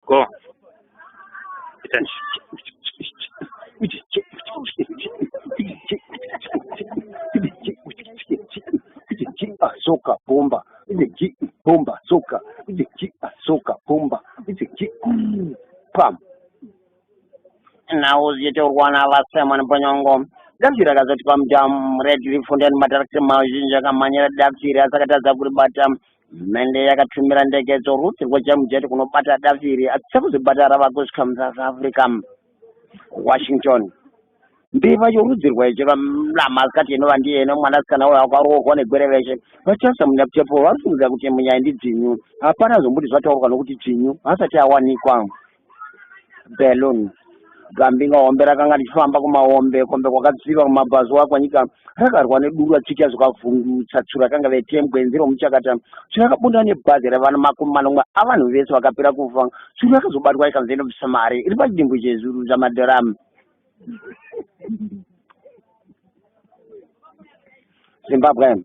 Go. Soka bomba, bomba soka, soka bomba, pam. Now you do one of us, someone, Bonyongo. Damsira akazoti pamudam red leaf ndani matarakita mazhinji akamhanyira damsira asakatadza kuribata Hurumende yakatumira ndege dzoruti rwejamujeti kunobata davi iri asi sekuzvibata rava kusvika muSouth Africa. Washington. Mbeva yorudzi rweche ramasikati inova ndiye ino mwanasikana uyo akaroorwa negwere veshe vachasa munyakutepo vari kufungidzira kuti munyaya ndidzinyu hapana zvombuti zvataurwa nokuti dzinyu hasati awanikwa balloon gambi nga hombe rakanga richifamba kumahombe kombe kwakatsiva kumabhazuwa kwanyika rakarwa neduru achitya zvakavhundutsa tsuro rakanga vetembwe nzira omuchakata tsuro rakabunda nebhazi revana makumi manomwe avanhu vese vakapera kufa tsuro rakazobatwa ikanzi inobvisa mari iri pachidimbu chezuru zvamadharamu zimbabwe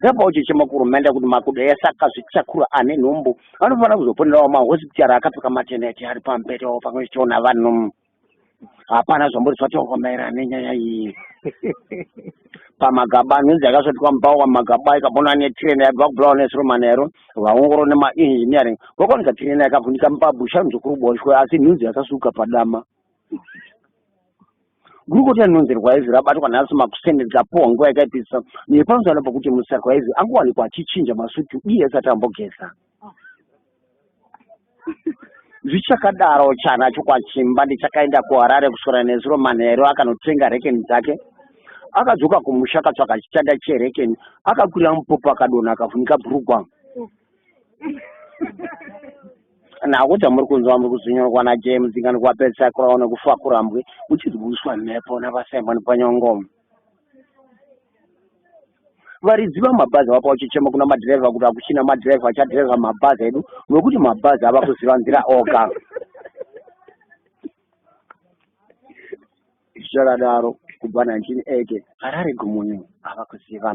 Ndapa uchechema kurumenda kuti makudo ese akazvitakura ane nhumbu anofanira kuzoponerawo mahospitari akapfeka mateneti ari pamubhedha wo pamwe chiona vanhu hapana zvambori zvataurwa maererano nenyaya iyi pamagaba nhunzi yakasvotwa mupawa magaba ikabona netirena yabva kubulawa nesiromana yaro vaongoro nemaengineering vakaoneka tirena yakavhunika mupabusha nzokuru boshwe asi nhunzi yakasuka padama Gurukota rinonzi Rwaezi rabatwa nhasi makuseni rikapuwa nguva yakaipisa nepamusana pokuti Musa Rwaezi angowanikwa achichinja masutu iye asati ambogeza. Zvichakadaro, chana chokwachimba ndichakaenda kuHarare kuswera nezuro manheru akanotenga rekeni dzake. Akadzoka kumusha akatsvaga chitanda cherekeni, akakwira mupopo akadonha akafunika bhurugwa. nako chamuri kunzwa muri kuzvinyorwa najames ingani kuwapedzisa kurawo nekufa kurambwe uchizwiswa mhepo navasimon panyongomo varidzi vamabhazi vapa uchichema kuna madhirevha kuti hakuchina madhirevha achadhirevha mabhazi edu nokuti mabhazi ava kuziva nzira oga zvichakadaro kubva 1980 harare gumunyu ava kuziva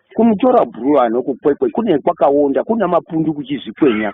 Kumutora bhuru ano kukwekwe kune kwakaonda kuna mapundu kuchizvikwenya.